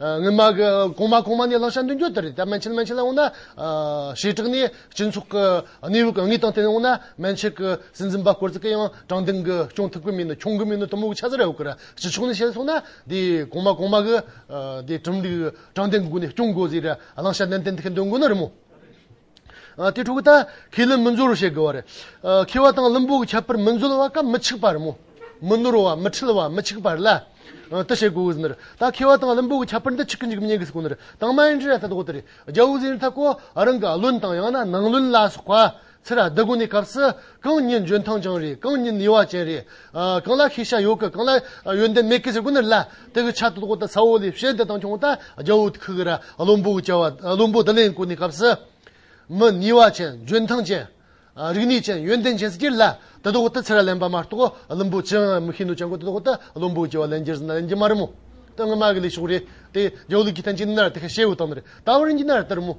ངེད་མ་གོང་མ་གོང་མ་ནས་བླང་བྱ་མདུན་སྐྱོད་དེ་རེད་ད་མན་ཆད་མན་ཆད་ལ་འོངས་ན། བྱེ་བྲག་ནི་སྤྱི་ཚོགས་ཀྱི་གནས་བབ་གང་ངེས་དང་བསྟུན་ནས་འོངས་ན་མན་ཆད་ཀྱི་སྲིད་འཛིན་པ་སྐོར་ཙི་གི་ཡང་དྲང་བདེན་གྱི་སྐྱོང་ཐུབ་ཀྱི་མིན་ནོ་འཁྱོང་གི་མིན་ནོ་དུ་མོ་གི་ཆ་ཟེར་ཡོད་ཀྱི་རེད་ཕྱི་ཕྱོགས་ནས་བཤད་སོང་ན་དེ་གོང་མ་གོང་མ་གི་དེ་ཁྲིམས་ལུགས་དྲང་བདེན་གྱི་སྒོ་ནས་སྐྱོང་དགོས་ཟེར་བའི་བླང་བྱ་ནན་ཏན་ཐིག་གི་འདོན་དགོས་ནི་རེད་མོད། དེ་དྲུག་ད་ཁས་ལེན་མི་འཛོལ་བ་བྱེད་དགོས་པ་རེད། ཁེ་བ་དང་བླུན་པོའི་ཁྱད་པར་མི་འཛོལ་བ་ཀ་མི་འཆིག་པར་མོ། མི་ནོར་བ་མི་འཁྲུལ་བ་མི་འཆིག་པར་ལ། དུ་བྱེད་དགོས་ཟིན་ནར། ད་ཁེ་བ་དང་བླུན་པོའི་ཁྱད་པར་འདི་གཅིག་གི་འཇིག་མཉེན་གྱི་སྐུ་ནར་དྭངས་མ་ཡིན་ཏེ་ད་དགོས་དེ་རེད། རྒྱལ་བུ་ཟིན་རི་ཐ་ཀོ་རང་གི་བློན་དང་ཡང་ན་ནང་བློན་ལ་སོགས་པ་ཚུར་བདག་དགོས་ནས་སྐབས་སུ། གང་ཉིད་འཇོན་ཐང་ཅང་རེད་གང་ཉིད་ནུས་བ་ཅན་རེད། གང་ལ་ཤེས་བྱ་ཡོད་གི་གང་ལ་ཡོན་ཏན་མེད་གི་ཟེར་དགོས་ནི་ལ་དེ་གི་ཆ་དོ་ཐོག་ཏུ་ཚ་བོ་ལས་ཞེན་དེ་དང་ཆུང་ད་རྒྱ་བོ་ཁི་གི་ར་བློན་པོ་གི་བྱ་བ་བློན་པོ་དི་ལེན་དགོས་ནི་སྐབས་སུ། མི་ནུས་བ་ཅན་འཇོན་ཐང་ཅན། རིག་ནུས་ཅན་ཡོན་ཏན་ཅན་ཟེར་གྱི་ལ་དེ་ཐོག་ཏུ་ཚེ་ར་ལེན་པ་མ་གཏོགས་བློན་པོ་ཅི་ཡང་མི་ཤེས་འདུག་ཅང་གོ་དེ་ཐོག་ཏུ་བློན་པོ་གི་བྱ་བ་ལེན་རྒྱུར་ཟེར་ན་ལེན་གྱི་མ་རེད་མོད། དོན་ངོ་མ་གི་ལས་ཤོག་རེད་དེ་རྒྱ་བོ་ལུགས་ཀྱི་བསྟན་བཅོས་ནི་ནར་དེ་ཁ་ཤས་ཡོད་དམ་རེད་ད་བར་ཡིན་གྱི་ནར་དེར་མོད།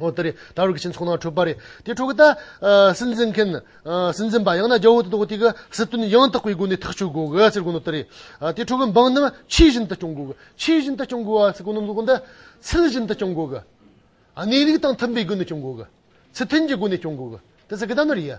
ཨོ་དེ་རེད་ད་རུང་གི་སྤྱི་ཚོགས་ནང་འཁྲུག་པ་རེད་དེ་འཁྲུག་གི་ད། སྲིད་འཛིན་མཁན། སྲིད་འཛིན་པ་ཡང་ན་རྒྱ་བོད་དོ་དེ་གི་སྲིད་དོན་ཡང་དག་པའི་སྒོ་ནས་ཐག་གཅོད་དགོས་གི་ཟེར་དགོས་ནི་དེ་རེད། དེ་འཁྲུག་གི་འབངས་རྣམས་ཆོས་བཞིན་དུ་སྐྱོང་དགོས་གི་ཆོས་བཞིན་དུ་སྐྱོང་དགོས་ཟེར་དགོས་ནི་འདི་ཚུལ་བཞིན་དུ་སྐྱོང་དགོས་གི། གནས་ལུགས་དང་མཐུན་པའི་སྒོ་ནས་སྐྱོང་དགོས་གི། སྲིད་དོན་གྱི་སྒོ་ནས་སྐྱོང་དགོས་གི་དེ་ཟེར་གི་ད་ནི་རེད་ཡ།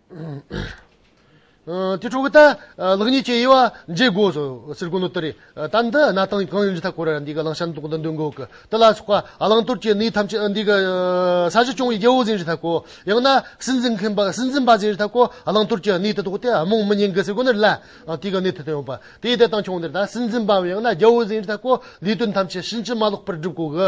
དེ་ཕྲུ་གུ་ད་ལག་གཉིས་ཀྱི་དབྱེ་བ་འབྱེད་དགོས་སོ་ཟེར་དགོས་ནོ་ད་རེ་ད་འདི་གནའ་དང་གང་ཡིན་རི་ཐ་གོ་ར་འདི་ག་གླང་ཤར་འདུག་འདི་འདོན་དགོས་ཀི་དེ་ལ་སོགས་པ་གླང་དོར་གྱི་གནས་ཐམས་ཅད་འདི་ག་ས་གཞི་སྐྱོང་བའི་རྒྱལ་པོ་ཟིན་རི་ཐ་གོ་ཡང་ན་སྲིད་འཛིན་མཁན་པ་སྲིད་འཛིན་པ་ཟིན་རི་ཐ་གོ་གླང་དོར་གྱི་གནས་དེ་དོག་སྟེ་རྨོངས་མི་ཉན་གི་ཟེར་དགོས་ནི་རི་ལ་དེ་ག་གནས་དེ་དོན་ཡོད་པ་དེ་དེ་དང་ཁྱོང་འདིར་ད་སྲིད་འཛིན་པའམ་ཡང་ན་རྒྱལ་པོ་ཟིན་རི་ཐ་གོ་ལས་དོན་ཐམས་ཅད་ཕྱིན་ཅི་མ་ལོག་པར་བསྒྲུབ་དགོས་ཀི་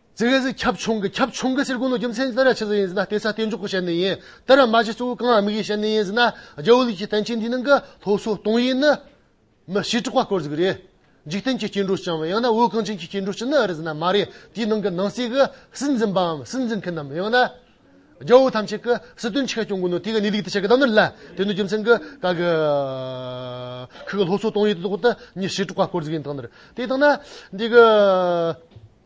རྩེ་གེ་སི་ཁྱབ་ཆུང་གི་ཁྱབ་ཆུང་གི་སེར་ཀུ་ནོ་རྒྱུ་མཚན་ཏི་ཏར་ར་ཆི་ཟི་ཡིན་ཟི་ན་ཏེ་ས་ཏེ་མཇུག་གི་བཤད་ནི་ཡིན་ཏར་ར་མ་ཆི་གཙོ་བོའི་རྐང་ཨ་མིག་ཡི་བཤད་ནི་ཡིན་ཟི་ན་རྒྱལ་བོ་ལིས་ཀྱི་བསྟན་བཅོས་འདིའི་ནང་གི་ཐོ་སོ་སྟོང་ཡིག་ནི། མི་ཞིག་གྲགས་པ་སྐོར་ཟིག་རེད། འཇིག་རྟེན་གྱི་སྐྱེ་འགྲོ་བྱང་བ་ཡང་ན་བོད་གངས་ཅན་གྱི་སྐྱེ་འགྲོ་ཅི་ནི་རེད་ཟི་ན་མ་རེད་དེའི་ནང་གི་ནང་གསེས་ཀྱི་སྲིད་འཛིན་པའམ་སྲིད་འཛིན་མཁན་ནམ་ཡང་ན། རྒྱལ་བོ་ཐམས་ཅད་ཀྱི་སྲིད་དོན་ཆེ་ཁ་སྐྱོང་དགོས་ནོ་དེ་ག་ནི་ལིག་ཏི་ཆེ་གི་གདམས་ནོར་ལ་དེ་ནི་རྒྱུ་མཚན་གི་ག་གི་ཁི་གི་ལྷོ་སོ་སྟོང་ཡིག་ཏི་ཏོག་ཏི་མྱི་ཞིག་གྲགས་པ་སྐོར་ཟིག་ཡིན་དང་ནི་དེ་དང་ན་འདི་གི།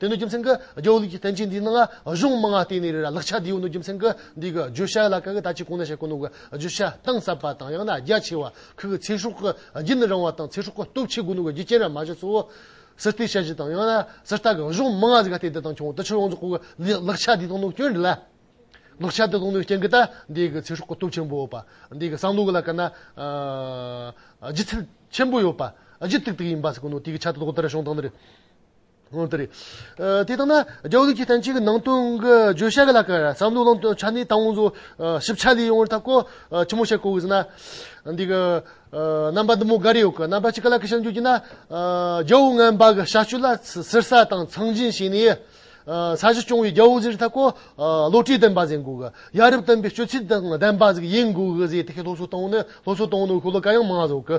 དེ་ནི་རྒྱུ་མཚན་གྱི་རྒྱལ་བོ་ལུགས་ཀྱི་བསྟན་བཅོས་འདིའི་ནང་གཞུང་མང་བར་བརྟེན་ནས་རེད་ལ་ལག་ཆ་དེའུ་ནི་རྒྱུ་མཚན་གྱི་འདི་གི་བརྗོད་བྱ་ལ་ག་གི་ད་ཅི་གོང་ན་བཤད་ཀྱི་ནང་གི་བརྗོད་བྱ་གཏིང་ཟབ་པ་དང་ཡང་ན་རྒྱ་ཆེ་བ་ཁག་གི་ཚེ་སྲོག་གི་རྒྱུན་ནི་རིང་བ་དང་ཚེ་སྲོག་གི་སྟོབས་ཆེ་དགུ་ནང་གི་རྒྱུ་རྐྱེན་ར་མ་བཞི་གཙོ་བོ་སི་ཏི་ཤ་བཞི་དང་ཡང་ན་སི་རྟ་གི་གཞུང་མང་བ་ཟིག་ག་སྟེ་འདི་དང་ཁྱོང་དུ་ཆུ་ཡོངས་རྫོགས་གི་ལག་ཆ་དེ་དང་ནང་སྐྱོན་རེད་ལ། ལག་ཆ་དེ་དང་ནང་སྐྱོན་གྱི་ད་འདི་གི་ཚེ་སྲོག་གི་སྟོབས་ཆེན་པོ་བ་འདི་གི་སང་ལུགས་ལ་ག་ན་སྒྱུ་རྩལ་ཆེན་པོ་ཡོད་པ་སྒྱུ་རྟུག་དུག་ཡིན་པ་ཟིག་གི་ནང་དེ་གི་ཆ་དེ་དོག་ལྟར་བྱུང་སྟངས་ནི་རེད། དེ་ལྟར་ན་རྒྱ་བོད་ལུགས་ཀྱི་བསྟན་བཅོས་ཀྱི་ནང་དོན་གྱི་བརྗོད་བྱ་ལ་ཀར་བསམ་བློ་གླང་དོན་ཆ་ནི་དང་བོ་ཞིབ་ཆ་ལས་ཡོང་བར་ཐབས་གོ་ཆེན་མོ་ཞིག་བཀོད་ཟིན། འདི་གི་རྣམ་པ་འདི་མོ་འགའ་རེ་ཡོད། རྣམ་པ་གཅིག་ལ་ཀི་ཞེས་འགྱུར་གྱིས་ན། རྒྱལ་བོ་རྔན་པ་གྱི་བྱ་སྤྱོད་ལ་གསེར་ས་དང་ཚང་འཛིན་བྱས་ནས། ས་གཞི་སྐྱོང་བའི་རྒྱལ་བོ་ཟེར་བའི་ཐབས་གོ། བློ་གྲོས་ལྡན་པ་ཟེར་འགོ་གི། ཡ་རབས་བསྟན་པའི་སྤྱོད་ཚུལ་དང་ལྡན་པ་ཟེར་གྱི་ཡིན་འགོ་གི་ཟེར་ཏེ་ལྷོ་སོ་དང་བོ་ནི་ལྷོ་སོ་དང་བོ་ནི་ཁོ་ལ་ཀ་ཡང་མ་ཟོ་གི།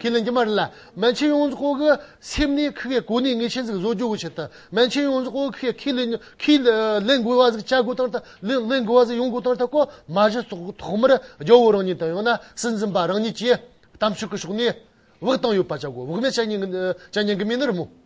ཁས་ལེན་གྱི་མ་རེད་ལ། མན་ཆིན་ཡོངས་རྫོགས་ཀྱི་སེམས་ནི་ཁི་ཁའི་གོ་གནས་ངེས་ཅན་ཟིག་བཟོ་རྒྱུ་གི་ཆེད་དུ་མན་ཆིན་ཡོངས་རྫོགས་ཀྱི་ཁས་ལེན་དགོས་བ་ཟིག་བྱ་དགོས་དང་ལེན་དགོས་བ་ཟིག་ཡོང་དགོས་དང་ཐ་ཀོ་མ་གཞི་ཐོག་མར་རྒྱལ་བོ་རང་ཉིད་དང་ཡང་ན་སྲིད་འཛིན་པ་རང་ཉིད་ཀྱིས་གཏམ་ཤུགས་ཀྱི་ཕྱོགས་ནས་དབུགས་བཏང་ཡོད་པ་བྱ་དགོས་དབུགས་མེད་བྱ་ཉན་གྱི་མིན་ནི་རི་མོ།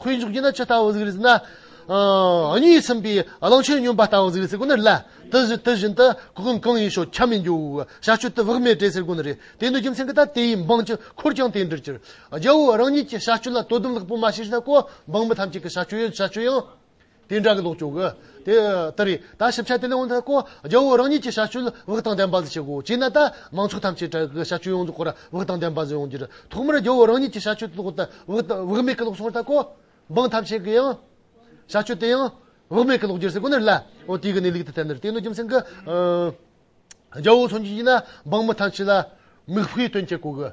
ཁོའི་མཇུག་རྒྱུད་ན་ཆུ་ལྟ་བུ་ཟིག་རེད་ཟེར་ན། གཉིད་ཚིམ་པའི་གླང་ཆེན་སྨྱོན་པ་ལྟ་བུ་ཟིག་རེད་ཟེར་དགོས་ནི་རེད། དེ་བཞིན་དུ་གོ་སྐོན་གང་ཡིན་ཤོག་ཁྱབ་མི་འགྱུར། བྱ་སྤྱོད་དུ་བག་མེད་བྲེལ་ཟེར་དགོས་ནི་རེད། དེ་འདོད་རྒྱུ་མཚན་གྱི་ལྟར་དེའི་འབངས་ཀྱི་འཁོར་ཀྱང་དེ་འདྲར་གྱུར། རྒྱལ་བོ་རང་ཉིད་ཀྱི་བྱ་སྤྱོད་ལ་དོ་དམ་ལེགས་པོ་མ་བྱས་ཟིན་ན་ཀོ་འབངས་མི་ཐམས་ཅད་ཀྱི་བྱ་སྤྱོད་ཡང། དེ་འདྲ་གི་ལོག་སྤྱོད་གི། དེ་ལྟར་རེད་ད་ཞིབ་ཆ་དེ་ལས་འོངས་ཐད་ཀོ་རྒྱ་བོད་རང་ཉིད་ཀྱི་བྱ་སྤྱོད་ལ་དབུགས་དང་ལྡན་པ་ཟིག་བྱེད་དགོས་བྱས་ན་ད་མང་ཚོགས་ཐམས་ཅད་དྲ་གི་བྱ་སྤྱོད་ཡོངས་རྫོགས་སྐོར་དབུགས་དང་ལྡན་པ་ཟིག་ཡོང་རྒྱུར་ཐོག་མར་རྒྱ་བོད་རང་ཉིད་ཀྱི་བྱ་སྤྱོད་དེ་ཐོག་ཏུ་དབུགས་མེད་གི་ལོག་སོང་བ་ལྟ་ཀོ། འབངས་ཐམས་ཅད་ཀྱི་ཡང། བྱ་སྤྱོད་དེ་ཡང། དབུགས་མེད་གི་ལོག་རྒྱུར་ཟིག་ཁོ་ནར་ལ། འོ་དེའི་གི་ནི་ལུགས་དེ་ཐད་ནི་རེད་དེ་ནི་རྒྱུ་མཚན་གི། རྒྱ་བོད་ཚོ་འཇུག་ཡིན་ན་འབངས་མི་ཐམས་ཅད་ལ། མིག་དཔེའི་དོན་བྱེད་དགོས་གི།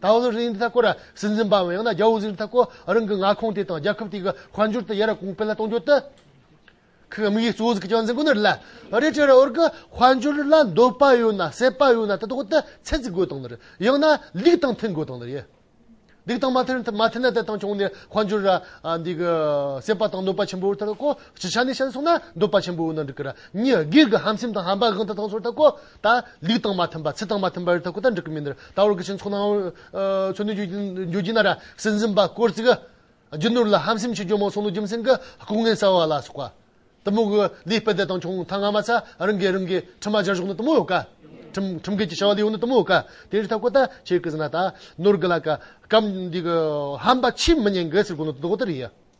ད་བོད་རིགས་འདི་དག་སྐོར་སྲིད་འཛིན་པའམ་ཡང་ན་རྒྱ་བོད་གཟིགས་འདི་དག་སྐོར་རང་གི་མངའ་ཁོངས་དེ་དང་རྒྱལ་ཁབ་དེ་གི་དཔལ་འབྱོར་དང་ཡ་རབས་གོང་སྤེལ་གཏོང་རྒྱུ་དེ་ཁག་དམིགས་ཡུལ་གཙོ་བོ་ཞིག་གི་བྱང་ཚད་མགོ་ནས་རེད། རེད་དེ་རེད་བོད་ཀྱི་དཔལ་འབྱོར་ལ་འདོད་པ་ཡོད་ན་སྲེད་པ་ཡོད་ན་དེ་དག་དེ་ཚད་ཅིག་དགོས་དང་ནི་རེད། ཡང་ན་ལུགས་དང་མཐུན་དགོས་དང་ནི་རེད། ལུགས་དང་མ་མཐུན་ན་དེ་དང་དཔལ་འབྱོར་ནི་འདི་གི་སྲེད་པ་དང་འདོད་པ་ཆེན་པོ་དེ་དག་གོ། སྤྱི་ཆ་ནས་བཤད་ན་སོང་ན་འདོད་པ་ཆེན་པོ་ཡོད་ན་འགྲིག་གི་ར། གཉིས་དགེ་གི་ཧམ་སེམས་དང་ཧམ་པ་གང་དེ་དག་སོར་དག་གོ། ད། ལུས་དང་མ་མཐུན་པ་ཚིག་དང་མ་མཐུན་པ་རི་དྭགས་ཀུན་དང་འགྲིག་གི་མིན། ད་བར་གྱི་ཕྱིར་འཚོགས་ནའང། མཚོན་དོན་བརྗོད་ཀྱིན་ན་ར་སེར་འཛིན་པ་དཀོར་བརྩིག། རྒྱུ་ནོར་ལ་ཧམ་སེམས་ཆེ་རྒྱུ་མང་ཚོང་ལུགས་རྒྱུ་མཚན་གྱི་ལྐུགས་ངན་བསལ་བ་ལ་སོགས་པ། གཏི་མུག། ལུས་སྤེལ་བདེ་དང་ཆུང་མཐའ་སྔ་མ་ཚ་རང་གིས་རང་གི་ཁྲི་མ་སྦྱར་གཞོགས་ནི་གཏི་མུག་ག། ཁྲིམས་འགལ་གྱི་བྱ་བ་ལས་ཡོང་ནི་གཏི་མུག་ག། དེ་རི་དྭགས་ཀུན་དང་ཆེ་གི་ཟིན་ན་ད། ནོར་གི་ལ། སྐམ། འདི་གི་ཧམ་པ་ཕྱིས་མི་ཉན་གི་ཟེར་དགོས་ནི་དོ་དགོང་དེ་རེད་ཡ།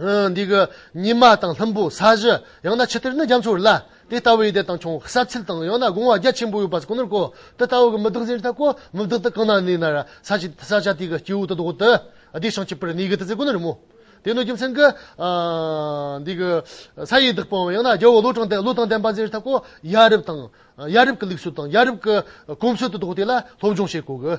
འདི་གི་ཉི་མ་དང་ལྷུན་པོ་ས་གཞི་ཡང་ན་ཕྱི་དེར་ནི་རྒྱ་མཚོར་བརླ། དེ་ལྟ་བུའི་ལྟས་དང་ཆུང་ས་ཚིལ་དང་ཡང་ན་སྒོང་བ་རྒྱ་ཆེན་པོ་ཡོད་པ་ཀུན་ནོར་གོ། དེ་ལྟ་བུ་གི་མི་བདག་ཟིན་རི་དག་གོ། མི་བདག་དེ་གང་ན་ནི་ན་ར་ས་ཆི་ས་ཆ་དེ་གི་སྐྱེས་བུ་དེ་བདག་གོ་སྟེ། དེ་བྱང་ཆུབ་པར་ནི་གི་དེ་ཚེ་ཀུན་ནོར་རི་མོ། དེ་ནི་རྒྱུ་མཚན་གི། འདི་གི་ས་ཡི་བདག་པོའམ་ཡང་ན་རྒྱལ་བོ་བློ་དྲང་དེ་བློ་དང་ལྡན་པ་ཟིན་རི་དག་གོ། ཡ་རབས་དང། ཡ་རབས་ཀི་ལུགས་སྲོལ་དང་ཡ་རབས་ཀི་གོམས་སྲོལ་དེ་བདག་གོ་དེ་ལ་སློབ་སྦྱོང་བྱེད་དགོས་གི།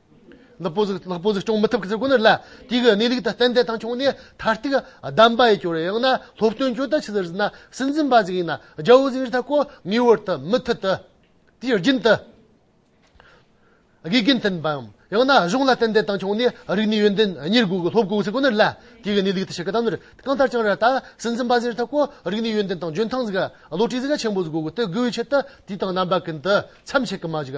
ལ་སྤོ་གཟུགས་ལ་སྤོ་གཟུགས་སྐྱོང་མི་ཐུབ་ཀི་ཟེར་དགོས་ནི་ལ་དེ་གི་གནས་ལུགས་དང་གཏན་བདེ་དང་ཆུང་ནས་མཐར་ཐུག་བདམས་པ་ཡི་གྱོ་རེ་ཡང་ན་སློབ་སྟོན་གྱོ་ད་ཆི་ཟེར་ཟིན་ན་སྲིད་འཛིན་པ་ཟིག་ཡིན་ན་རྒྱ་བོ་ཟིག་རི་ཐ་གོ་ངེས་བོར་དུ་མི་ཐུ་དུ་དེའི་རྒྱུན་དུ་དགེ་རྒན་མཐུན་པའམ་ཡང་ན་གཞུང་ལ་གཏན་བདེ་དང་ཆུང་ནས་རིག་གནས་ཡོན་ཏན་གཉེར་དགོས་ཀི་སློབ་དགོས་ཀི་ཟེར་དགོས་ནི་ལ་དེ་གི་གནས་ལུགས་དུ་ཆི་གི་དམ་ནོར་གང་ལྟར་ཀྱང་ར་ད་སྲིད་འཛིན་པ་ཟིག་རི་ཐ་གོ་རིག་གནས་ཡོན་ཏན་དང་འཇོན་ཐང་ཟིག་བློ་གྲོས་ཟིག་ཆེན་པོ་ཟིག་དགོས་ཀི་དེ་དགོས་བའི་ཆེད་དུ་དེ་དང་རྣམ་པ་ཀུན་དུ་མཚམས་ཆད་ཀི་མ་ཟིག་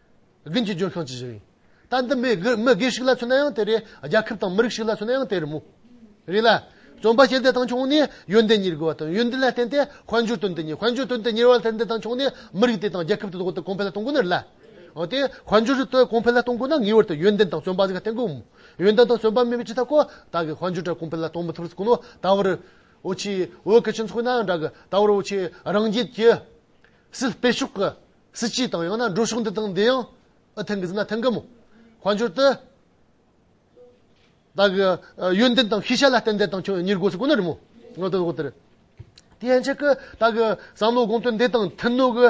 དགུན་གྱི་ལྗོན་ཤིང་ཇི་བཞིན་རེད། ད་འདི་མི་སྒེར་ཞིག་ལ་མཚོན་ན་ཡང་དེ་རེད། རྒྱལ་ཁབ་དང་མི་རིགས་ཞིག་ལ་མཚོན་ན་ཡང་དེ་རེད་མོད། རེད་ལ། རྩོམ་པ་ཞེས་འདི་དང་ཆུང་ནས་ཡོན་ཏན་གཉེར་དགོས་པ་དང་ཡོན་ཏན་ལ་བརྟེན་ཏེ་དཔལ་འབྱོར་དོན་དུ་གཉེར་དཔལ་འབྱོར་དོན་དུ་གཉེར་བ་དེར་འདི་དང་ཆུང་ནས་མི་རིགས་དེ་དང་རྒྱལ་ཁབ་དེ་དོགས་ཏེ་གོང་འཕེལ་ལ་གཏོང་དགོས་ནི་རེད་ལ། འོན་ཏེ་དཔལ་འབྱོར་དེ་གོང་འཕེལ་ལ་གཏོང་དགོས་ན་ངེས་བར་དུ་ཡོན་ཏན་དང་བརྩོན་པ་གཉིས་ཀ་བརྟེན་དགོས་མོད། ཡོན་ཏན་དང་བརྩོན་པ་མེད་པའི་ཕྱིར་ད་གོ། ད་གིས་དཔལ་འབྱོར་དེ་གོང་འཕེལ་ལ་གཏོང་མི་ཐུབ་པར་གོ་ནོ། ད་བར། འོ་ཆེའི་འོད་ཀྱི་སྤྱི་ཚོགས་ན་འདྲ་གི། ད་བར་འོ་ཆེའི་རང་རྒྱལ་གྱི། སྲིད་སྤེལ་ཕྱོགས་ཀྱི། སྲིད་སྤྱི་དང་ཡང་ན་འགྲོ་ཕྱོགས་འདི་དང་འདི་ཡང་ཨི་ཐེང་གི་ཟིན་ན་ཐེང་གི་མོ། དཔལ་འབྱོར་དུ། བདག་གི་ཡོན་ཏན་དང་ཤེས་བྱ་ལ་བརྟེན་འདས་དང་ཁྱོད་གཉིས་དགོས་སུ་དཀོན་ནོ་རི་མོ། ངོ་དེ་དགོས་དེ་རེད། དེ་ཡན་ཆད་ཀྱི་བདག་གི་བསམ་བློ་དགོངས་དོན་འདས་དང་མཐུན་ནོ་གི།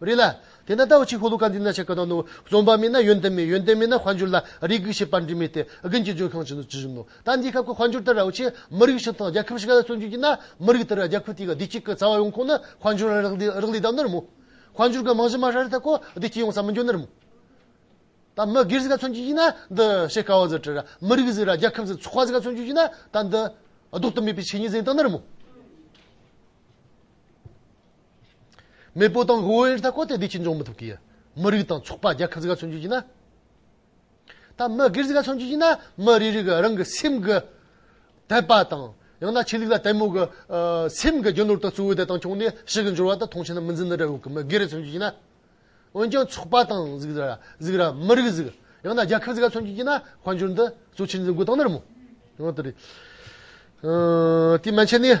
རེད་ལ། དེས་ན་ད་འོ་ཆི་ཧོ་ལོ་ཀ་འདི་ན་ཆ་ག་ན་ནོ། རྩོམ་པ་མེད་ན་ཡོན་ཏན་མེད་ཡོན་ཏན་མེད་ན་དཔལ་འབྱོར་ལ་རེ་སྒུག་བྱེད་པར་འབྲས་མེད་དེ་དགུན་གྱི་ལྗོན་ཤིང་བཞིན་དུ་ཇི་བཞིན་ནོ། ད་འདིའི་སྐབས་ཀྱི་དཔལ་འབྱོར་དེ་ར་འོ་ཆི་མི་རིགས་ཤིག་དང་རྒྱལ་ཁབ་ཞིག་ལ་བརྩོན་རྒྱུ་ཡིན་ན་མི་རིགས་དེ་ར་རྒྱལ་ཁབ་དེའི་བདེ་སྐྱིད་ཀྱི་རྩ་བ་ཡོང་ཁོ་ན་དཔལ་འབྱོར་རག་ལས་རག་ལས་དང་ནི་རི་མོ། དཔལ་འབྱོར་གྱི་རྨང་གཞི་མ་ཧྲ་རེ་ད་ཀོ་བདེ་སྐྱིད་ཡོང་ས་མི་འགྱུར་ནི་རི་མོ། ད་མི་སྒེར་ཞིག་ལ་བརྩོན་རྒྱུ་ཡིན་ན་འདི་བྱེད་དཀའ་བ་ཟེར་གྲི་ར་མི་རིགས་ཟེར་ར་རྒྱལ་ཁབ་ཟེར་ཚོགས་པ་ཞིག་ལ་བརྩོན་རྒྱུ་ཡིན་ན་ད་འདི་ལྡོག་ཏུ་མེད་པའི་ཆོས་ཉིད་ཟེར་དང་ནི་རི་མོ། མེས་པོ་དང་ཧོའུ་ཨེར་ཐ་གོ་ཐའི་སྡེ་ཆེན་འཇོག་མི་ཐུབ་ཀི། མི་རིགས་དང་ཚོགས་པ་རྒྱལ་ཁབ་ཟི་ག་མཚོན་རྒྱུ་ཡིན་ན། ད་མི་སྒེར་ཟི་ག་མཚོན་རྒྱུ་ཡིན་ན་མི་རེ་རེ་གི་རང་གི་སེམས་ཀི་དད་པ་དང་ཡང་ན་ཆོས་ལུགས་ལ་དད་མོ་གི་སེམས་ཀི་རྒྱུ་ནོར་དང་གཙོ་བོའི་བདེ་ཐང་ཕྱོགས་ནས་ཞི་གི་འབྱོར་བ་དང་ཐོང་ཆེ་ན་མི་འཛིན་ན་འདྲ་བོ་གི་མི་སྒེར་མཚོན་རྒྱུ་ཡིན་ན། འོན་ཀྱང་ཚོགས་པ་དང་ཟི་ག་ཟི་ག་མི་རིགས་ཟི་གི་ཡང་ན་རྒྱལ་ཁབ་ཟི་ག་མཚོན་རྒྱུ་ཡིན་ན་དཔལ་འབྱོར་འདི་གཙོ་ཆེར་འཛིན་དགོས་དང་ནི་ར་མོ། དེ་མ་ཆད་ནས།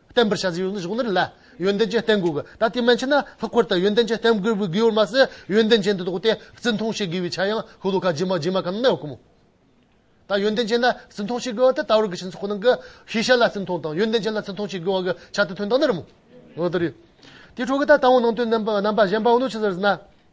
བརྟན་པར་བྱ་ཟིན་ཡོད་ན་གཞུང་ལྟར་ལ། ཡོན་ཏན་ཅན་བརྟན་དགོས། ད་ལྟའི་མན་ཆད་ན་ལྷག་པར་དུ་ཡོན་ཏན་ཅན་བརྟན་དགོས་པའི་དགོས་ཡོད་མ་ཟད་ཡོན་ཏན་ཅན་དེ་དོགས་ཏེ་བརྩི་མཐོང་བྱེད་དགོས་པའི་ཆ་ཡང་ཤོ་ལོ་ཀ་རྗེས་མ་རྗེས་མ་ག་ན་ན་ཡོད་ཀི་མོད། ད་ཡོན་ཏན་ཅན་ལ་བརྩི་མཐོང་བྱེད་དགོས་བ་དེ་ལྟ་བུར་གི་ཕྱིན་ཚོགས་ནང་གི་ཤེས་བྱ་ལ་བརྩི་མཐོང་དང་ཡོན་ཏན་ཅན་ལ་བརྩི་མཐོང་བྱེད་དགོས་བ་གི་ཆ་དེ་དོན་དག་ནི་རི་མོ། དེའི་ཁྲོད་ཀི་ད་ལྟ་བོ་ནང་དོན་རྣམ་པ་གཞན་པའོ་ནོ་ཅི་ཟེར་ཟིན་ན།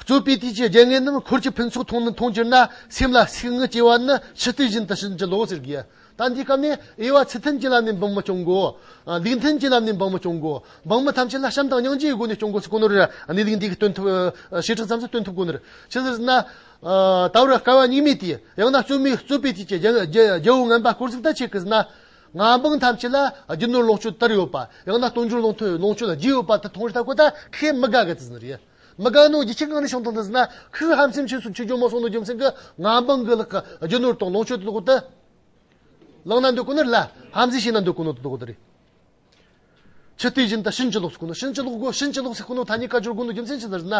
རྩོད་པའི་དུས་ཀྱི་རྒྱལ་ངན་རྣམས་འཁོར་གྱི་ཕུན་ཚོགས་མཐོང་ནི་མཐོང་གྱུར་ན་སེམས་ལ་སིག་ངུ་སྐྱེ་བ་ནི་ཕྱི་རྟུལ་བཞིན་དུ་ཕྱིན་ཅི་ལོག་ཟེར་གྱི། ད་འདིའི་སྐབས་ནས་དབྱེ་བ་ཚུལ་མཐུན་གྱི་ལམ་ནས་འབངས་མི་སྐྱོང་དགོས། ལུགས་མཐུན་གྱི་ལམ་ནས་འབངས་མི་སྐྱོང་དགོས། འབངས་མི་ཐམས་ཅད་ལ་བྱམས་དང་སྙིང་རྗེའི་སྒོ་ནས་སྐྱོང་དགོས་སུ་དཀོན་ནོར་གནས་ལུགས་འདི་གི་སྟོན་ཐུབ། བྱེ་བྲག་ཙམ་ཞིག་སྟོན་ཐུབ་དཀོན་ནོར། ཅི་ཟེར་ན། ད་བར་སྐལ་བ་སྙིགས་མའི་དུས། ཡང་ན་རྩོད་མེད་རྩོད་པའི་དུས་ཀྱི་རྒྱལ་པོ་ངན་པ་བསྐོར་གཟིགས་ལྟ་བྱེད་ཀྱི་ཟེར་ན། ང་འབངས་ཐམས་ཅད་ལ་རྒྱུ་ནོར་ལོངས་སྤྱོད་དར་ཡོད་པ། ཡང་ན་སྟོང་འགྱུར་ལོངས་ཐོན་ལོངས་སྤྱོད་རྒྱས་ཡོད་པ་དེ་མཐོང་རིས་ལྟ་གོ་ད་ཁས་མི་དགའ་གི་དེ་ཟིན་རེད། མི་དགའ་ནོ་རྒྱུ་ཆེ་གང་ནས་བྱུང་དང་དེ་ཟིན་ན་ཁོས་ཧམ་སེམས་ཆེ་སུ་ཆོས་འབྱུང་མ་སོང་ནོ་རྒྱུ་མཚན་གི་ང་འབངས་གི་ལག་གི་རྒྱུ་ནོར་དང་ལོངས་སྤྱོད་དེ་དག་གོ་ད། བླངས་ན་འདོད་ཀོ་ནོ་རེད་ལ་ཧམ་འཛིན་བྱས་ན་འདོད་ཀོ་ནོ་དེ་དག་གོ་ད་རེད། ཚུལ་དེ་བཞིན་དུ་ཕྱིན་ཅི་ལོག་སྐུ་ནི་ཕྱིན་ཅི་ལོག་གོ་ཕྱིན་ཅི་ལོག་སའི་སྐུ་ནི་ཐ་སྙད་ཀ་ཅོར་དགུ་ནི་རྒྱུ་མཚན་ཅི་ལྟར་ན།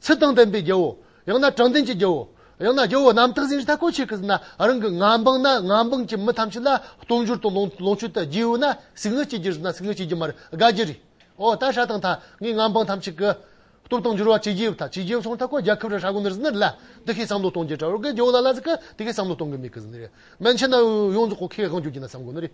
ཚུལ་དང་ལྡན་པའི་རྒྱུའོ། ཡང་ན་དྲང་ལྡན་གྱི་རྒྱུའོ། ཡང་ན་རྒྱུ་བོ་རྣམ་དག་ཟིན་རིགས་ཐ་ཀོ་ཆོས་ཀྱི་ཟིན་ན་རང་གི་ངང་འབངས་ན་ངང་འབངས་ཀྱི་མི་ཐམས་ཅད་ལ་སྟོང་འགྱུར་དང་ལོངས་སྤྱོད་དུ་རྒྱུའོ་ན་ཟིག་ནི་སྐྱེ་རྒྱུར་ཟིན་ན་ཟིག་ནི་སྐྱེ་རྒྱུ་མ་རེད་དགའ་རྒྱུ་རེད། འོ་ད་ཧྲ་དང་ཐ་ངའི་ངང་འབངས་ཐམས་ཅད་ཀྱི། སྟོབས་དང་འགྱུར་བ་ཇི་བགྱིའོ་ཐ་ཇི་བགྱིའོ་སོང་ཐ་ཀོ་རྒྱལ་ཁབ་རེ་ཧྲ་གོ་ནི་རི་ཟིན་ན་ལ་དེ་ཤེས་བསམ་བློ་གཏོང་རྒྱུ་ཀྲ་རོ་གི་རྒྱུ་བོ་ལ་ལ་ཟིག་གི་དེ་ཤེས་བསམ་བློ་གཏོང་གི་མེད་གི་ཟིན་ནི་རེད། མན་ཆད་ན་ཡོངས་རྫོགས་ཀོ་ཁེ་དབང་རྒྱུ་རྒྱུ་ན་བསམ་གོ་ནི་རེད།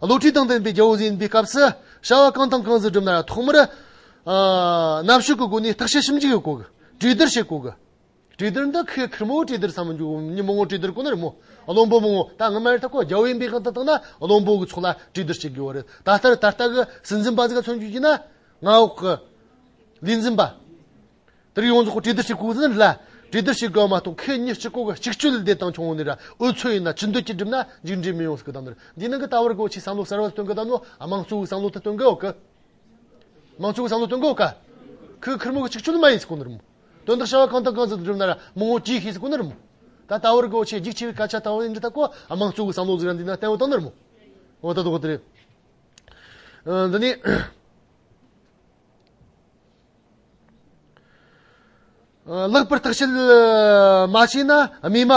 བློ་གྲོས་དང་ལྡན་པའི་རྒྱལ་པོ་ཟིན་པའི་སྐབས་སུ། བྱ་བ་གང་དང་གང་ཟིན་བསྒྲུབས་ན་ཐོག་མར། གནམ་ཕྱོགས་ཀྱི་སྒོ་ནས་བརྟག་དཔྱད་ཞིབ་འཇུག་གི་སྒོ། གྲོས་བསྡུར་བྱེད་སྒོ། གྲོས་བསྡུར་འདི་ཁོས་ཁིར་མོའི་གྲོས་བསྡུར་བསམ་མི་འཇུག་ཉིན་མོའི་གྲོས་བསྡུར་ཁོ་ན་རེད་མོད། བློན་པོ་མང་བོ་ད་སྔ་མར་ཐག་གོ་རྒྱལ་བོའི་འབེལ་ཁང་དུ་བཏང་ན་བློན་པོ་གི་ཚོགས་ལ་གྲོས་བསྡུར་བྱེད་དགོས་པ་རེད། ད་ལྟར་ད་ལྟ་གི་སྲིད་འཛིན་པ་ཟིག་ལ་མཚོན་རྒྱུ་ཡིན་ན། མངའ་འོག་གི། ལུས་འཛིན་པ། དེར་ཡོངས་རྫོགས་གྲོས་བསྡུར་བྱེད་དགོས་ཟིན་ལ། གྲོས་བསྡུར་བྱེད་དགོས་མ་གཏོགས་ཁེ་གཉིས་སྤྱི་ཁོག་གི་གཅིག་གཅོད་ལས་དེ་དང་ཆུང་ནས་ར་འུ་ཚོ་ཡིན་ན་ཅི་འདོད་ཀྱིས་བསྒྲུབ་ན་མཇུག་འབྲས་མི་ཡོང་སྲིད་གི་གདམས་ནོར་འདིའི་ནང་གི་ལྟ་བར་གོ་ཆའི་བསམ་བློ་གསར་བ་སྟོན་གི་གདམས་ནོར་དམངས་གཙོའི་བསམ་བློ་དེ་སྟོན་དགོས་གི། དམངས་གཙོའི་བསམ་བློ་སྟོན་དགོས་གི། ཁོས་ཁུར་མོ་གཅིག་གཅོད་མ་ཡིན་སྲིད་གོ་ནོར་མོད། དོན་དག་བྱ་བ་གང་དང་གང་ཟིག་ཏུ་བསྒྲུབ་ན་ར་མོ་ངོ་དཀྲིས་ཤེས་སྲིད་གོ་ནོར་མོད། ད་ལྟ་བར་གོ་ཆའི་རྒྱུགས་ཆེ་བའི་སྐད་ཆ་དང་བའི་འདྲི་ཐབས་གོ་དམངས་གཙོའི་བསམ་བློ་གཟིགས་ར་འདིའི་ནང་བསྟན་འོ་དང་ནོར་མོད། འོ་ད་དོག་དེ་རེད། འདི་ནི། ལྷག་པར་བརྟག་དཔྱད་མ་བྱས་ན་རྨས་མ་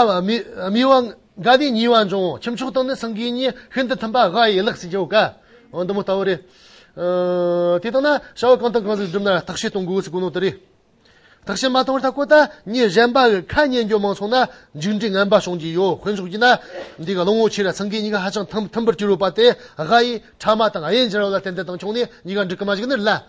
རྨི་བ་འགའ་ནི་ཉེ་བར་འབྱུང་ཁྱབ་ཕྱོགས་དང་ནི་སེང་གེའི་གཉེན་ཤིན་ཏུ་མཐུན་པ་དགའ་ཡི་ལག་ཟིན་ཆོ་ག་འདི་མོ་ལྟ་བུ་རེད། དེ་ལྟ་ན་བྱ་བ་གང་དང་གང་ཞིག་བསྒྲུབ་ན་བརྟག་དཔྱད་གཏོང་དགོས་ཚུལ་གོ་ནོར་དེ་རེད། བརྟག་དཔྱད་མ་བཏང་བར་ད་གོ་ད་ངས་གཞན་པ་གི་ཁ་ཉན་རྒྱུ་མང་སོང་ན་མཇུག་འབྲས་ངན་པ་བྱུང་རྒྱུ་ཡོད་དཔོན་ཕྱོགས་ཀྱིས་ན་འདི་ག་བློ་ངོར་ཆེ་ར་སེང་གེའི་གཉིས་ཀ་ཧ་ཅང་མཐུན་པར་གྱུར་ཡོད་པ་དེ་དགའ་ཡིས་ཕྲ་མ་དང་ཨ་ཡན་སྦྱར་བ་ལ་བརྟེན་ཏེ་བཏང་ཆོག་ནས་གཉིས་ཀ་འགྲིག་གི་མ་འཇིག་ནི་ལ་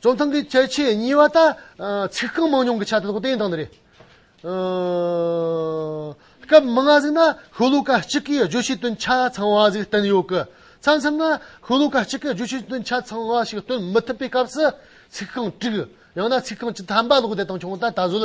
རྩོམ་ཐང་གི་བཅད་ཆེ་གཉིས་པ་ལྟར། ཚིག་རྐང་མང་ཉུང་གི་ཆ་དེ་དག་བསྟན་དང་རེད། སྐབས་མི་ལྔ་ཟིག་ན་ཤོ་ལོ་ཀ་གཅིག་གི་བརྗོད་བྱའི་དོན་ཆ་ཚང་བ་ཟིག་བསྟན་ཡོད་ཀི། མཚམས་མཚམས་ན་ཤོ་ལོ་ཀ་གཅིག་གི་བརྗོད་བྱའི་དོན་ཆ་ཚང་བ་ཞིག་སྟོན་མི་ཐུབ་པའི་སྐབས་སུ་ཚིག་རྐང་དྲུག་ཡང་ན་ཚིག་རྐང་བཅུ་ཐམ་པ་ལོག་བསྡད་དང་ཆུང་དང་ད་གཟོད་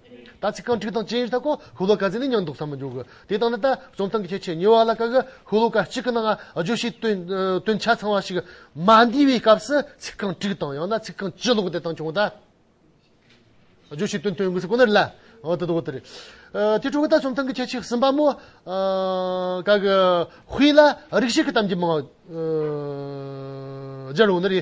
ད་ཚིག་རྐང་དྲུག་དང་བཅས་ལྟར་ཀོ་ཧུ་ལོ་ཀ་ཟིན་ནས་ཉམས་འདུག་བསམ་མི་འགྱུར་གི། དེ་ལྟ་ན་ད་བཅོམ་སྟངས་ཀྱི་ཁྱད་ཆོས་ཉེ་བ་ལ་ཀ་ཀོ་ཧུ་ལོ་ཀ་གཅིག་གི་ནང་བརྗོད་བྱའི་དོན་ཆ་ཚང་བ་ཞིག་མ་འདུས་པའི་སྐབས་སུ་ཚིག་རྐང་དྲུག་དང་ཡང་ན་ཚིག་རྐང་བཅུ་ལོག་སྡེབ་དང་བྱུང་ད། བརྗོད་བྱའི་དོན་དོན་དངོས་སུ་ཀོ་ནི་རི་ལ། འོ་དོ་དོ་དོ་རི། དེ་དྲུག་གི་ད་བཅོམ་སྟངས་ཀྱི་ཁྱད་ཆོས་གསུམ་པ་མོ། ཀ་ཀོ་ཧུའི་ལ་རིགས་ཤིག་གི་གཏམ་གྱི་མིང། རྒྱལ་བོ་ནི་རི།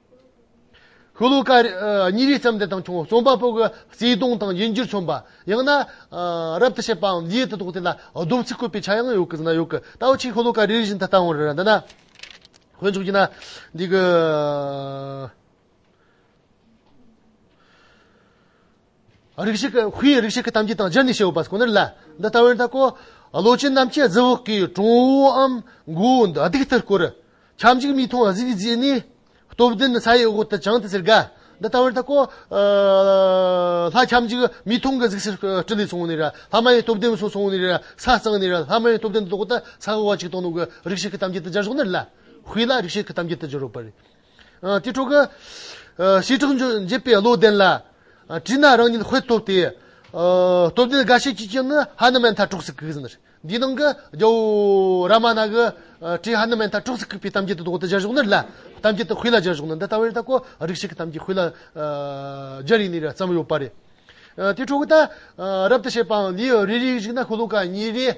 ཧུ་ལུ་ཀ། གཉིས་རིག་བརྩམས་ཏེ་དང་བྱུང་རྩོམ་པ་པོ་གི་བརྩེ་དུང་དང་དབྱིན་འགྱུར་མཚོན་པ། ཡང་ན། རབ་ཏུ་བྱེད་པའམ་ཡིད་དུ་འདོགས་དེ་ལ་སྡོམ་ཚིག་བཀོད་པའི་ཆ་ཡང་ཡོད་ཀི་ན་ཡོད་ཀི། ད་བོ་ཆེའི་ཧུ་ལུ་ཀ་རིག་བཞིན་དུ་བཏང་བར་འདོད་ན། དཀོན་མཆོག་གིས་ན། འདི་གི། རིགས་ཤིག་གིས་ཧུའེ་ཡི་རིགས་ཤིག་གི་གཏམ་རྒྱུད་དང་སྦྱར་ནས་བྱེད་འོས་པ་སོགས་ནི་ལ་འདི་ལྟ་བུར་འཐབ་གོ། བློ་ཅན་རྣམས་ཀྱིས་རྫི་བོ་ཀའི་གྲོང་བུའམ་མགོ་བོ་འདི་སྡིག་ལྟར་བསྐོར། ཁྱབ་འཇུག་མིའི་མཐོང་བ་གཟིགས་བརྗེད་ནས། སྟོབས་ལྡན་ས་ཡི་འོག་ཏུ་བྱང་དུ་ཟེར་དགའ། འདི་ལྟ་བུར་འཐབ་གོ། ལྷ་ཁྱབ་འཇུག་མིའི་མཐོང་གི་གཟིགས་ཕྱིར་སྤྲིན་ལས་སོང་ནས། ལྷ་མ་ཡི་སྟོབས་ལྡན་སོགས་སོང་ནས། ས་གཙང་ནས། ལྷ་མ་ཡི་སྟོབས་ལྡན་འདི་ལྟོགས་ཏེ་ས་གོ་བ་ཅིག་དང་ནོར་གྱི་རིགས་ཤིག་གི་གཏམ་རྒྱུད་དུ་སྦྱར་སོགས་ནི་ལ། ཧུའེ་ལ་རིགས་ཤིག་གི་གཏམ་རྒྱུད་དུ་སྦྱར་འོས་པ་རེད། དེ་ཕྲུ་གུ། ཞེས་དྲག་འཇིགས་པའི་བློ་ལྡན་ལ། བྲིས་ན་རང་ཉིད་ཧོས་ཐོབ་སྟེ། སྟོབས་ལྡན་དགའ་བྱེད་ཀྱི་སྐྱེས་ནི་ཧ་ནུ་མན་ཐ་དཀྲུགས་སུ་བཀུག། འདིའི་ནང་གི་རྒྱལ་པོ་ར་མ་ན་གི་དྲིས་ཧ་ནུ་མན་ཐ་དཀྲུགས་སུ་བཀུག་པའི་གཏམ་རྒྱུད་དུ་འོག་ཏུ་སྦྱར་བཞུགས་ནི་ལ། གཏམ་རྒྱུད་དུ་ཧུད་ལ་སྦྱར་བཞུགས་ནི་འདི་ལྟ་བུ་རེད་ད་ཀོ། རིགས་ཤིག་གི་གཏམ་རྒྱུད་ཧུད་ལ་སྦྱར་ཡིན་ནི་རེད་བསམ་ཡོད་པ་རེད། དེ་ཕྲུ་གུ་ད། རབ་ཏུ་བྱེད་པའང་ལུས་རེ་རེ་ཞིག་ན་ཁུ་ལུ་ཀ་གཉིས་རེ།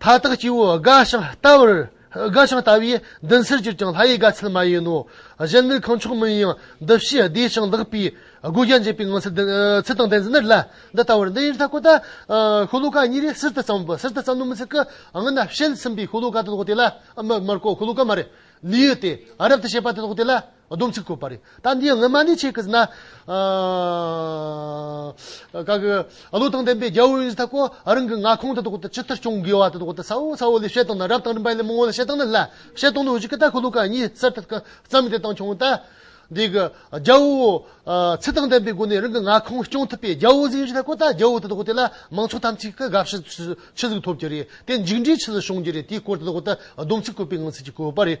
མཐའ་དག་སྐྱེ་བོའི་དགའ་ཞིང་ལྟ་བར་དགའ་ཞིང་ལྟ་བས་འདི་འཚལ་གྱུར་ཀྱང་ལྷ་ཡི་དགའ་ཚལ་མ་ཡིན་ནོ། གཞན་ནི་གང་ཕྱོགས་མིན་ཡང་འདི་བཞིན་བདེ་ཞིང་བདག་པོའི་སྒོ་བརྒྱ་འབྱེད་པའི་ངང་ཚུལ་ཚུལ་དང་ལྡན་ཚུལ་འདི་ལ་འདི་ལྟ་བུར་འདི་ཡི་མཐའ་ཀུན་ཏུ་ཤོ་ལོ་ཀ་གཉིས་རེ་གསེར་དུ་བརྩམས་པ་གསེར་དུ་བརྩམས་ནོ་མི་ཚིག་གི་ངང་ན་ཕྱེད་ཚིམ་པའི་ཤོ་ལོ་ཀ་དེ་དག་དེ་ལ་མར་མར་ཀོ་ཤོ་ལོ་ཀ་མར་ནི་ཡོད་དེ་རབ་ཏུ་བྱེད་པ་དེ་དག་དེ་ལ། སྡོམ་ཚིག་བཀོད་པ་རེད། ད་འདིའི་སྔོན་མ་ནི་ཆེ་གེ་ཟི་ན། ག་གི། བློ་དང་ལྡན་པའི་རྒྱལ་བོ་ཨིན་ཟི་ཐ་ཀོ། རང་གི་མངའ་ཁོངས་དེ་དག་ཏུ་ཇི་ལྟར་སྐྱོང་དགོས་བ་དེ་དག་ཏུ་ཚ་བོ་ཚ་བོ་ལས་བཤད་སྟངས་དང་རབ་དང་རིམ་པ་ལས་མང་བོ་ལ་བཤད་སྟངས་ནི་སླ། བཤད་སྟངས་ནི་འོ་ཇི་ཀི་ད་ཁོ་ལོ་ཀ་གཉིས་གསར་དུ་བརྩམས་ཏེ་བཏང་བྱུང་སྟེ། འདི་གི། རྒྱལ་བོ། ཚིག་དང་ལྡན་པའི་སྒོ་ནས་རང་གི་མངའ་ཁོངས་སྐྱོང་ཐུབ་པའི་རྒྱལ་བོ་ཨིན་ཟི་ཐ་ཀོ་ད་རྒྱལ་བོ་དེ་དག་དེ་ལ་མང་ཚོགས་དམ་ཚིག་གི་དགའ་བཞི་ཆི་ཟིག་ཐོབ་ཀྱི་རེད་དེ་འཇིགས་འདྲིས་ཆི་ཟིག་བྱུང་རྒྱུ་རེད་དེའི་སྐོར་དེ་དག་ཏུ་སྡོམ་ཚིག་བཀོད་པའི་ངང་ཚིག་ཅིག་བཀོད་པ་རེད།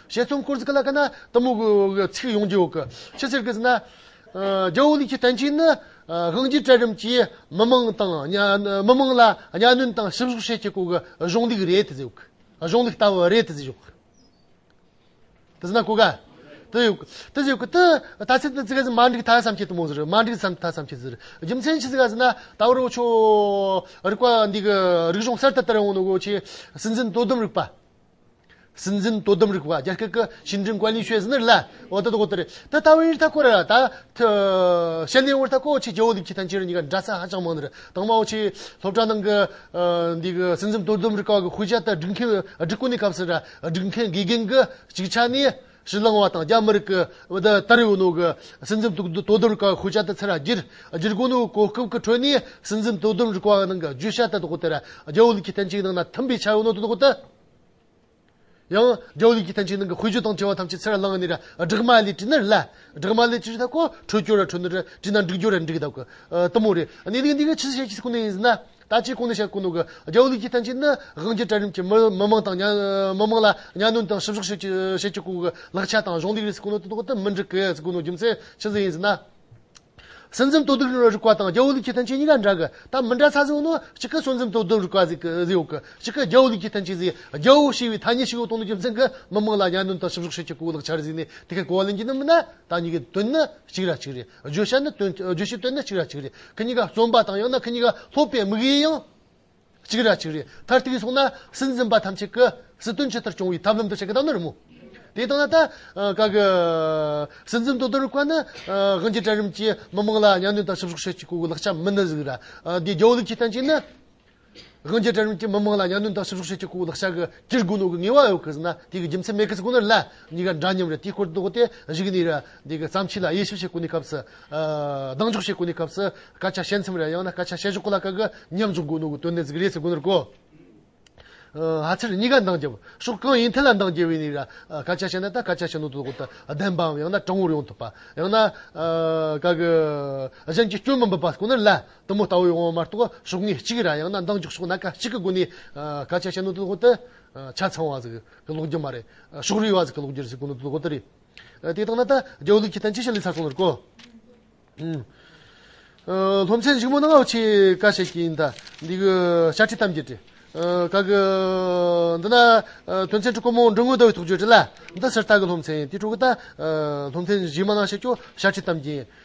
ཞེས་སྟོང་སྐོར་གཟིགས་ལ་དཀའ་ན། གཏི་མུག་གི་ཚིག་ཡོངས་ཀྱི་འོག་གི། ཕྱི་ཟེར་གྱིས་ཟིན་ན། རྒྱལ་བོ་ལུགས་ཀྱི་བསྟན་བཅོས་ནི། དབང་རྒྱུད་གྲལ་རིམ་གྱིས་མི་མང་དང། མི་མང་ལ་གཉའ་གནོན་དང་ཞིབ་བཤེར་བྱེད་ཀྱི་སྐོར་གྱི་གཞུང་ལུགས་རེད་དེ་ཟེར། གཞུང་ལུགས་ལྟ་བུ་རེད་དེ་ཟེར། དེ་ཟིན་ན་གོ་དཀའ། དེ་ཟེར། དེ་ཟེར། ད་ཚིག་དེ་ཚིག་ག་ཟིན་མ་འགྲིག་ད་བསམ་གྱིས་དུ་མ་ཟེར། མ་འགྲིག་བསམ་ད་བསམ་གྱིས་ཟེར། རྒྱུ་མཚན་ཅི་ཟེར་ག་ཟིན་ན། ད་བར་འོ་ཆོས་རིག་པ་འདི་གི་རིག་གཞུང་གསར་དུ་དར་ཡོང་ནི་འོ་ཆོས་སྲིད་འཛིན་དོ་དམ་རིག་པ། སྲིད་འཛིན་དོ་དམ་རིག་པ་རྒྱ་སྐད་ཀྱི་ཞིན་ཀྲིན་ཀུའེ་ལི་ཤོས་ཟིན་ནི་ལ་འོ་ད་ད་གོ་ད་རེད་ད་ལྟ་བའི་རིག་ཐ་སྐོར་ར་ད་ཤ་ནའི་བར་ཐ་སྐོར་ཆེ་རྒྱལ་བ་ལི་ཁི་ཐན་ཅི་རི་གཉིས་ཀ་འདྲ་ས་ཧ་ཅང་མང་ནི་དང་མའོ་ཆེ་སློབ་གྲྭ་ནང་གི་འདི་གི་སྲིད་འཛིན་དོ་དམ་རིག་པ་གི་ཤུལ་བཞག་ལྟར་སྒྲིག་མཁན་སྒྲིག་བཀོད་ནས་སྐབས་སུ་ར་སྒྲིག་མཁན་དགེ་རྒན་གྱི་ཅིག་ཆ་ནི་ཞིང་ནང་བ་དང་རྒྱ་མི་རིགས་ཀྱི་ཏཱ་རེའུ་ནུའུ་གི་སྲིད་འཛིན་དོ་དམ་ཁང་ཤུལ་བྱ་དེ་ཚེ་ར་རྒྱལ་རྒྱལ་དགོན་ནུའུ་གོ་སྐབས་ཀྱི་ཁྲོད་ནས་སྲིད་འཛིན་དོ་དམ་རིག་པ་ནང་གི་བརྗོད་བྱ་དེ་དག་དེར་རྒྱ་བོད་ཀྱི་བསྟན་བཅོས་ནང་ན་མཐུན་པའི་ཆ་ཡོད་ནོ་དེ་དག་དེ་ཡང་རྒྱ་བོད་ཀྱི་བསྟན་བཅོས་ནང་གི་དཔེ་བརྗོད་དང་བྲི་བ་ཐམས་ཅད་ཚེ་ར་ལང་ནི་སྦྲགས་མ་ལས་བྲིས་ན་རེད་ལ་སྦྲགས་མ་ལས་བྲིས་ཐབས་ཁོ་འཕྲོད་སྐྱོར་ར་འཕྲོད་ནི་རེད་བྲིས་ན་འགྲིག་སྦྱོར་ར་འགྲིག་གདབ་གི་ལྟ་མོ་རེད་གནས་ལུགས་འདི་ག་ཕྱི་སྲིད་ཤེས་ཀྱི་སུ་ནས་ཡིན་ཟེར་ན། ད་ལྕེ་ཀུན་ནས་ཤར་ཀུན་ནོ་གི་རྒྱལ་པོ་ལུགས་ཀྱི་མཐུན་རྐྱེན་ནི་དབང་རྒྱལ་གྲལ་རིམ་གྱི་མི་མང་དང་མི་མང་ལ་གཉའ་གནོན་དང་ཞིབ་བཤེར་བྱེད་བྱེད་ཀུན་གྱི་ལག་ཆ་དང་གཞུང་ལུགས་རིས་ཀུན་ནོ་དོ་བདག་ཏུ་མི་འགྲིག་གི་ཀུན་ནོ་རྒྱུ་མཚན་ཅི་ཟིག་ཡིན་ཟེར་ན། སྲིད་འཛིན་དོ་བདག་རིག་པ་དང་རྒྱལ་པོ་ལུགས་ཀྱི་མཐུན་རྐྱེན་གཉིས་ཀ་འདྲ་གི་ད་མི་འདྲ་ཚ་ཟིག་ཡོད་ན་གཅིག་གི་སྲིད་འཛིན་དོ་བདག་རིག་པ་ཟིག་ཟིག་ཡོད་གི་གཅིག་གི་རྒྱལ་པོ་ལུགས་ཀྱི་མཐུན་རྐྱེན་ཟིག་རྒྱལ་པོ་ཞེས་པའི་ཐ་སྙད་ཞིག་ཡོད་དོ་ནོ་རྒྱུ་མཚན་གི་མི་མང་ལ་གཉའ་གནོན་དང་ཞིབ་བཤེར་བྱེད་བྱེད་ཀུན་གྱི་ལག་ཆར་གཟིགས་ནས་དེ་གས་གོ་བ་ལེན་གྱི་ནི་མིན་ན་ད་གཉིས་ཀའི་དོན་ནི་གཅིག་ར་གཅིག་རེད། བརྗོད་བྱ་ནི་དོན་བརྗོད་བྱའི་དོན་ནི་གཅིག་ར་གཅིག་རེད་ཁི་གཉིས་ཀ་རྩོམ་པ་དང་ཡང་ན་ཁི་གཉིས་ཀ་ལྷོད་པའི་དམིགས་ཡུལ་ཡང་གཅིག་ར་གཅིག་རེད་མཐར་ཐུག་གིས་སོང་ན་སྲིད་འཛིན་པ་ཐམས་ཅད་ཀི་སྲིད་དོན་ཇི་ལྟར་སྐྱོང་བའི་ཐབས་ལམ་དུ་བྱེད་ཀི་དང་ནི་རི་མོ་དེ་དང་ན་ད་ག་གི་སྲིད་འཛིན་དོ་དོར་བ་ནི་དབྱིན་ཇི་གྲལ་རིམ་གྱིས་མི་མང་ལ་གཉའ་གནོན་དང་ཕྱི་བསོག་བྱེད་ཀྱི་སྐུ་གུ་ལག་ཆ་མི་ནི་ཟིག་ར་དེ་རྒྱའུ་ལུགས་ཀྱི་སྟན་ཅིག་ནི། དབྱིན་ཇི་གྲལ་རིམ་གྱི་མི་དམངས་ལ་གཉའ་གནོན་དང་ཕྱི་ཕྱོགས་ཤེས་ཀྱི་སྐུ་ལག་ཤ་གི་སྐྱིར་དགུ་ནོར་གི་ངེས་པ་ཡོད་གི་ཟིན་ན་དེ་གི་རྒྱུ་མཚན་མེད་གི་ཟིན་ཁོ་ནར་ལན་གཉིས་ཀ་འདྲ་མཉམ་རེད་དེའི་སྐོར་དོགས་ཏེ་གཞིགས་ནས་དེ་གི་བརྩམས་ཆོས་ལ་དབྱེ་ཞིབ་བྱེད་དགོས་ནས་སྐབས་སུ། གདེང་འཇོག་བྱེད་དགོས་ནས་སྐབས་སུ། སྐད་ཆ་བཤད་མཚམས་རེར་ཡང་ན་སྐད་ཆ་བཤད་ཞོར་གོ་ལ་ག་གི་མཉམ་འཇོག་དགོས་ནོར་གི་དོན་གནད་གཟིགས་རེས་བྱེད་དགོས་ནོར་གོ། ཨ་ཚེར་གཉིས་ཀ་འདང་རྒྱབ། ཕྱོགས་གང་ཡིན་ཐད་ལ་འདང་རྒྱལ་བའི་ནི་ར། སྐད་ཆ་བཤད་ན་ད་སྐད་ཆ་བཤད་ནོར་དོ་དོགས་ཏེ་བདེན་པའམ་ཡང་ན་དྲང་བོར་ཡོང་ཐུབ་པ། ཡང་ན། ག་གི། གཞན་གྱི་སྐྱོན་མི་འབུབ་པ་ཁོ་ནར་ལན། གཏུམ་མོ་ལྟ་བུའི་དབང་བོ་མ་གཏོགས་གཟུགས་བརྙན་གཅིག་རང་ཡང་ན་མདངས་འཇུག་སོགས་ན་ཁ་ཅིག་གི་སྒོ་ནས་ག་ཆད་བྱེད་ནོ་ལྟོ་ལྟོ། ཆ་ཚང་བ་ཟིག་གི་ལོག་རྒྱུ་མ་རེད། ཕྱོགས་རིས་བ་ཟིག་གི་ལོག་རྒྱུར་ཟིག་གོ་ནོ་ལྟོ་ལྟོ་རེད། དེ་ལྟ་ན་ད་རྒྱལ་བོ་ལུགས་ཀྱི་དོན་ཅི་ཞིག་ལས་ཚར་སོང་ལོར་གོ། སློབ་ཚན་བཞུགས་མོ་ནང་བ་ཆེ་ཁ་བྱས་ཀྱི་ཡིན་ད། འདི་གི་ཤ་ཁྲི་ཐམས་ཅད་བྲི། ག་གི། འདི་ན་དོན་ཚན་དྲུག་གོ་མོ་འབྲུ་དངོས་ཟླ་བའི་ཐོག་བརྗོད་བྲི་ལ། འདི་སུ་ལྟ་གི་སློབ་ཚན་ཡིན་དེ་དྲུག་གི་ད། སློབ་ཚན་བཞུགས་མ་ནང་བྱས་ཀྱོ་ཤ་ཁྲི་ཐམས་ཅད་ཡིན།